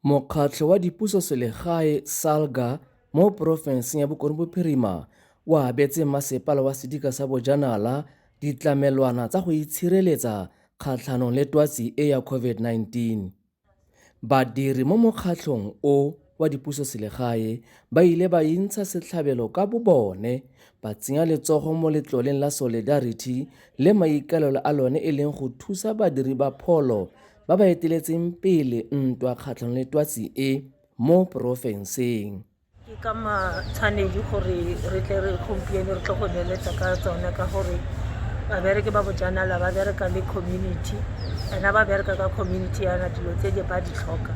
Mokgatlho wa Dipusoselegae SALGA mo porofenseng ya Bokone Bophirima o abetse Masepala wa Sedika sa Bojanala ditlamelwana tsa go itshireletsa kgatlhanong le twatsi e ya COVID-19. Badiri mo mokgatlhong o wa dipusoselegae ba ile ba intsha setlhabelo ka bobone ba tsenya letsogo mo letloleng la Solidarity le maikaelelo a lone e leng go thusa badiri ba pholo ba ba eteletseng pele ntwa kgatlhanong le twatsi e mo porofenseng ke ka matshwanedi gore re tle re gompieno re tle go beeletsa ka tsone ka gore babereke ba bojanala ba bereka le community ena ba bereka ka community yana dilo tse di ba di tlhoka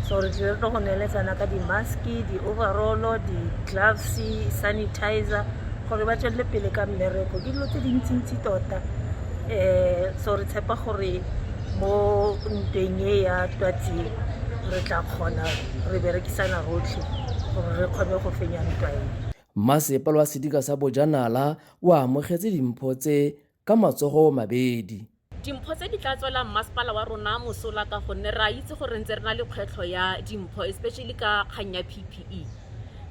so re tlile re tlo go neeletsana ka di-maske di-overallo di-gloves sanitizer gore ba tswelele pele ka mmereko ke dilo tse dintsintsi tota um so re tshepa gore mo ntweng e ya twatsing re tla kgona re berekisana rotlhe gore re kgone go fenya ntwa e mmasepala wa sedika sa bojanala o amogetse dimpho tse ka matsogo mabedi dimpho tse di tla tswelang mmasepala wa rona mosola ka gonne re a itse gore ntse re na le kgwetlho ya dimpho especially ka kgang ya ppe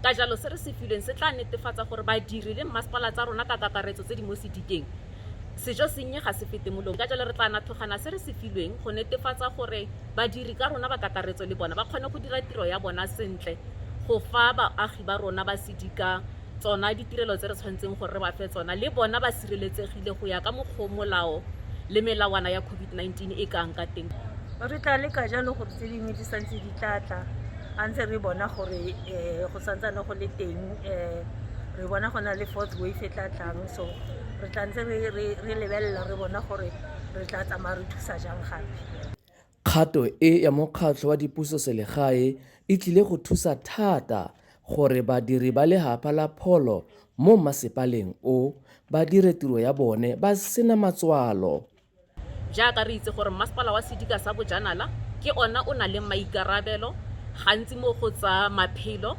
ka jalo se re se filweng se tla netefatsa gore badiri le mmasepala tsa rona ka kakaretso tse di mo sedikeng Sejo sennye ga se fete molong, ka jalo re tla nathogana se re se filweng go netefatsa gore badiri ka rona ba kakaretso le bona ba kgone go dira tiro ya bona sentle go fa baagi ba rona ba Sedika tsona ditirelo tse re tshwanetseng gore re ba fe tsona le bona ba sireletsegile go ya ka mokgwa molao le melawana ya COVID-19 e kang ka teng. Re tla leka jalo gore tse dingwe di santse di tla tla a ntse re bona gore um go santsane go le teng um re bona go na le fourth wave e tla tlang so re tla ntse re lebelela re bona gore re tla tsamaya re thusa jang gape Kgato e ya mokgatlho wa dipuso selegae e tlile go thusa thata gore badiri ba lehapa la pholo mo mmasepaleng o ba dire tiro ya bone ba sena matswalo. Jaaka re itse gore Mmasepala wa Sedika sa Bojanala ke ona o nang le maikarabelo gantsi mo go tsa maphelo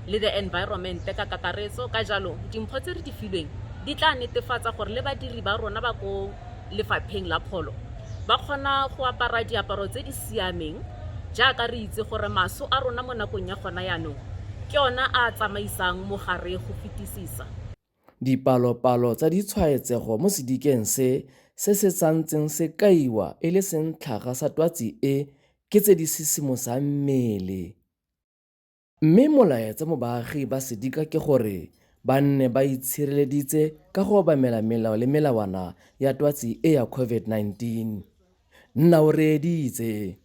le the environment ka kakaretso, ka jalo dimpho tse re di filweng di tla netefatsa gore le badiri ba rona ba ko lefapheng la pholo ba kgona go apara diaparo tse di siameng jaaka re itse gore maso a rona mo nakong ya gona yanong ke ona a tsamaisang mogare go fetisisa. Dipalopalo tsa ditshwaetsego mo sedikeng se se se santseng se kaiwa e le sentlhaga sa twatsi e ke tse di sisimosang mmele. Mme molaetsa mo baagi ba sedika ke gore ba nne ba itshireleditse ka go obamela melao le melawana ya twatsi e ya COVID-19. Nna o reeditse.